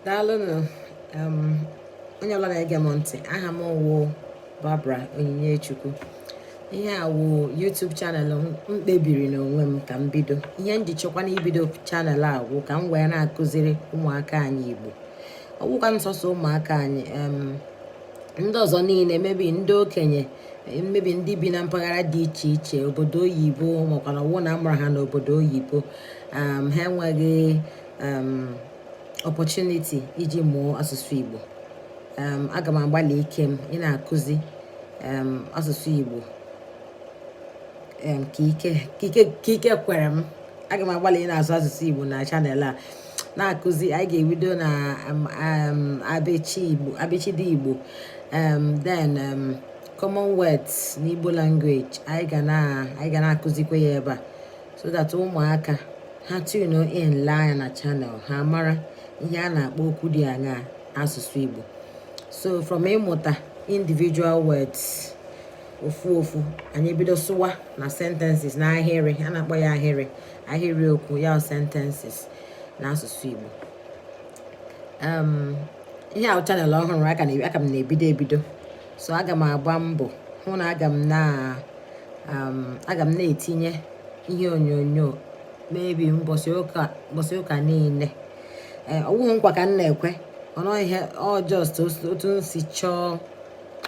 daalụnụ um, onye ọbụla na-ege m ntị aha m wụ Barbara Onyinye-Chukwu. ihe a wụ YouTube channel m kpebiri n'onwe m ka m bido ihe m ji chọkwanụ ibido channel a wụ ka m wee na-akụziri ụmụaka anyị Igbo ọ wụkwa nsọsọ ụmụaka anyị um, ndị ọzọ niile maybe ndị okenye maybe ndị bi na mpaghara dị iche iche obodo oyibo maka na ọ wụ na amụrụ ha n'obodo oyibo um, ha enweghị um, opportunity iji mụọ asụsụ igbo um, aga m agbalị ike m ịna-akụzi asụsụ igbo ka ike kwere m aga m agbalị ịna-asụ asụsụ igbo na channel a na-akụzi anyị ga-ebido na um, um, abịchị igbo abịchịdị igbo um, then common words na igbo language anyị ga na-akụzikwa ya ebe a so that ụmụaka ha tune in lee anya na channel ha mara ihe a na-akpọ okwu ndị a n'asụsụ igbo so from ịmụta individual words ofu ofu anyị ebido sụwa na sentences na ahịrị a na-akpọ ya ahịrị ahịrịokwu ya sentences n'asụsụ Igbo um, ihe a wụ channel ọhụrụ aka m na-ebido ebido so aga m agba mbọ hụ na aga m na um, aga m na-etinye ihe onyonyo maybe mbọsị ụka niile eh, ọwụghị nkwa ka m na-ekwe ụnụ ihe ọ just otu m si chọọ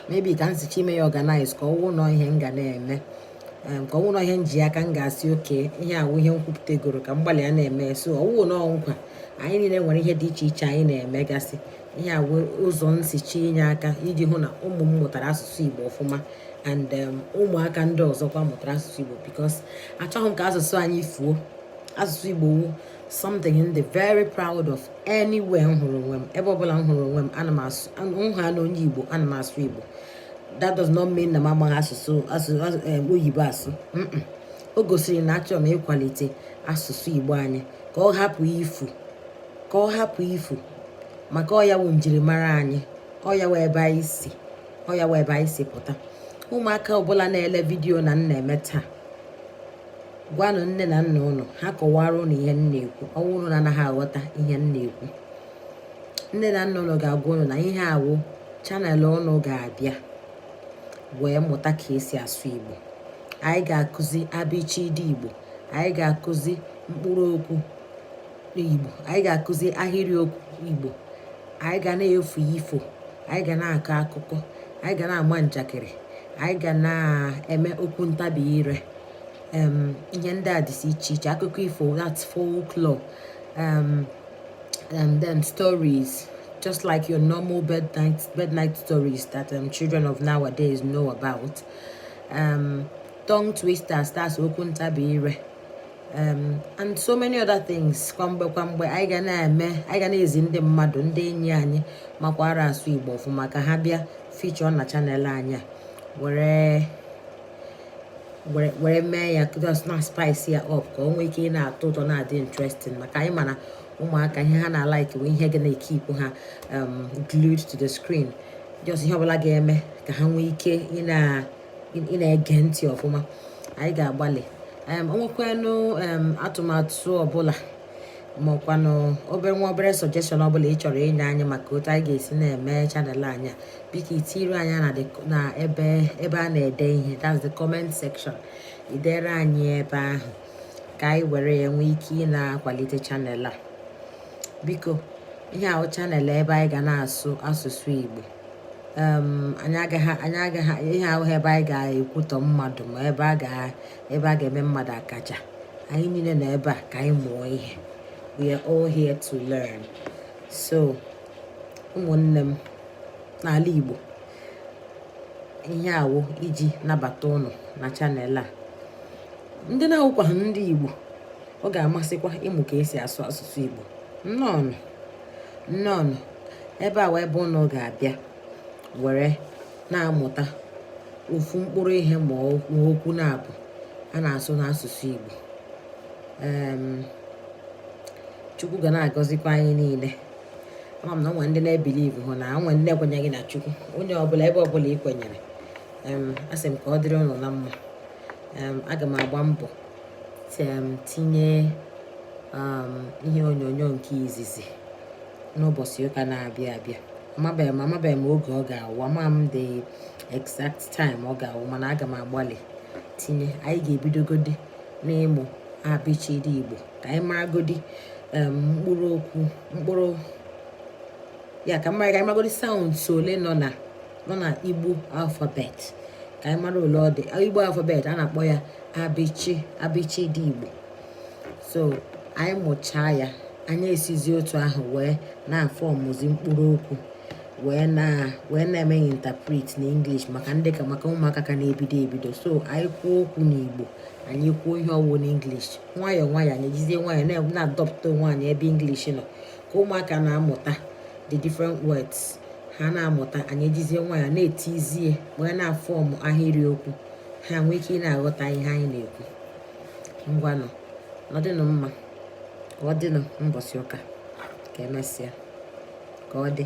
maybe ka m si chọọ ime ya organize ka ọ wụ nọ ihe m ga na-eme ka ọ wụrụ ihe m ji aka m ga-asị okay ihe a wụ ihe m kwupụtagoro ka m gbalịa na-eme so ọwụghị nọ nkwa anyị niile nwere ihe dị iche iche anyị na-emegasị ihe a wụ ụzọ m si chọọ inye aka iji hụ na ụmụ m mụtara asụsụ Igbo ọfụma and um, ụmụaka ndị ọzọkwa mụtara asụsụ Igbo because achọghị m ka asụsụ anyị fuo asụsụ Igbo wụ something m dị very proud of anywhere m hụrụ onwe m ebe ọbụla m hụrụ onwe m ana m asụ m hụna onye Igbo ana m asụ Igbo that does not mean na m amaghị asụsụ oyibo asụ o gosiri na achọrọ m ịkwalite asụsụ igbo anyị ka ọ hapụ ifu ka ọ hapụ ifu maka ọ ya wụ njirimara anyị ọ ya wụ ebe anyị si ọ ya wụ ebe anyị si pụta ụmụaka ọbụla na-ele vidiyo a m na-eme taa gwanụ nne na nna ụnụ ha kọwara ụnụ ihe m na-ekwu ọ wụrụ na ụnụ anaghị aghọta ihe m na-ekwu nne na nna ụnụ ga-agwa ụnụ na ihe a wụ channel ụnụ ga-abịa wee mụta ka esi asụ igbo anyị ga-akụzi abịchịdị igbo anyị ga-akụzi mkpụrụ okwu igbo anyị ga-akụzi ahịrị okwu igbo anyị ga na-efu ifo anyị ga na-akọ akụkọ anyị ga na-ama njakịrị anyị ga na-eme okwu ntabi ire ihe ndị a dịsị iche iche akụkọ ifo that's folklore and then stories just like your normal bed night bed night stories that um, children of nowadays know about um, tongue twisters that's okwu ntabi ire um, and so many other things kwamgbe kwamgbe anyị ga na-eme anyị ga na-ezi ndị mmadụ ndị enyi anyị makwara asụ igbo ọfụma ka ha bịa feature na channel anyị a were were mee ya just na spice ya up ka o nwee ike ị na-atọ ụtọ na-adị interesting maka anyị ma na ụmụaka ihe ha na-alike bụ ihe ga na-ekeep ha um, glued to the screen just ihe ọbụla ga-eme ka ha nwee ike ị na-ege ntị ọfụma anyị ga-agbalị um, o nwekwanụ um, atụmatụ ọbụla maọkwanụ obere nwa obere suggestion ọbụla ị chọrọ inye anyị maka otu anyị ga-esi na-eme channel anyị biko i tiiri anyị na ebe ebe a na-ede ihe that's the comment section i deere anyị ebe ahụ ka anyị were ya nwee ike ị na-akwalite channel a biko ihe a wụ channel ebe anyị ga na-asụ asụsụ Igbo anyị agaghị ihe a awụghị ebe anyị ga-ekwutọ mmadụ ma ebe a ga ebe a ga-eme mmadụ akaja anyị niile nọ ebe a ka anyị mụọ ihe we are all here to learn so ụmụnne m n'ala Igbo ihe a wụ iji nabata ụnụ na channel a ndị na-awụkwaghị ndị Igbo ọ ga-amasịkwa ịmụ ka esi asụ asụsụ Igbo nnọọnụ nnọọnụ ebe a wụ ebe ụnụ ga-abịa were na-amụta ofu mkpụrụ ihe maọkwanụ abụọ a na-asụ n'asụsụ Igbo Chukwu ga na-agọzikwa anyị niile ama m na o nwe ndị na-ebelieve hụ na o nwe ndị ekwenyeghị na Chukwu onye ọbụla ebe ọbụla ị kwenyere asị m ka ọ dịrị ụnụ na mma aga m agba mbọ tinye ihe onyonyo nke izizi n'ụbọchị ụka na-abịa abịa amabeghị m amabeghị m oge ọ ga-awụ ama m the exact time ọ ga-awụ mana aga m agbalị tinye anyị ga-ebidogodi n'ịmụ abịchịdị igbo ka anyị maragodi mkpụrụ okwu mkpụrụ ya ka mara ka anyị maragodi sounds ole nọ na nọ na igbo alphabet ka anyị mara ole ọ dị igbo alphabet a na-akpọ ya abịchị abịchịdị igbo so anyị mụchaa ya anyị esizi otu ahụ wee na-afọmụzi mkpụrụ okwu wee na wee na-eme interpret na English maka ndị ka maka ụmụaka ka na-ebido ebido so anyị kwuo okwu n'Igbo anyị kwuo ihe ọ wụ na English nwayọọ nwayọọ anyị ejizie nwayọọ na-adọpụta onwe anyị ebe English nọ ka ụmụaka na-amụta the different words ha na-amụta anyị ejizie nwayọọ na-etizie wee na-afọmụ ahịrịokwu ha nwee ike ị na-aghọta ihe anyị na-ekwu ngwanụ nọdịnụ mma ka ọ dịnụ mbọsị ụka ka emesịa ka ọ dị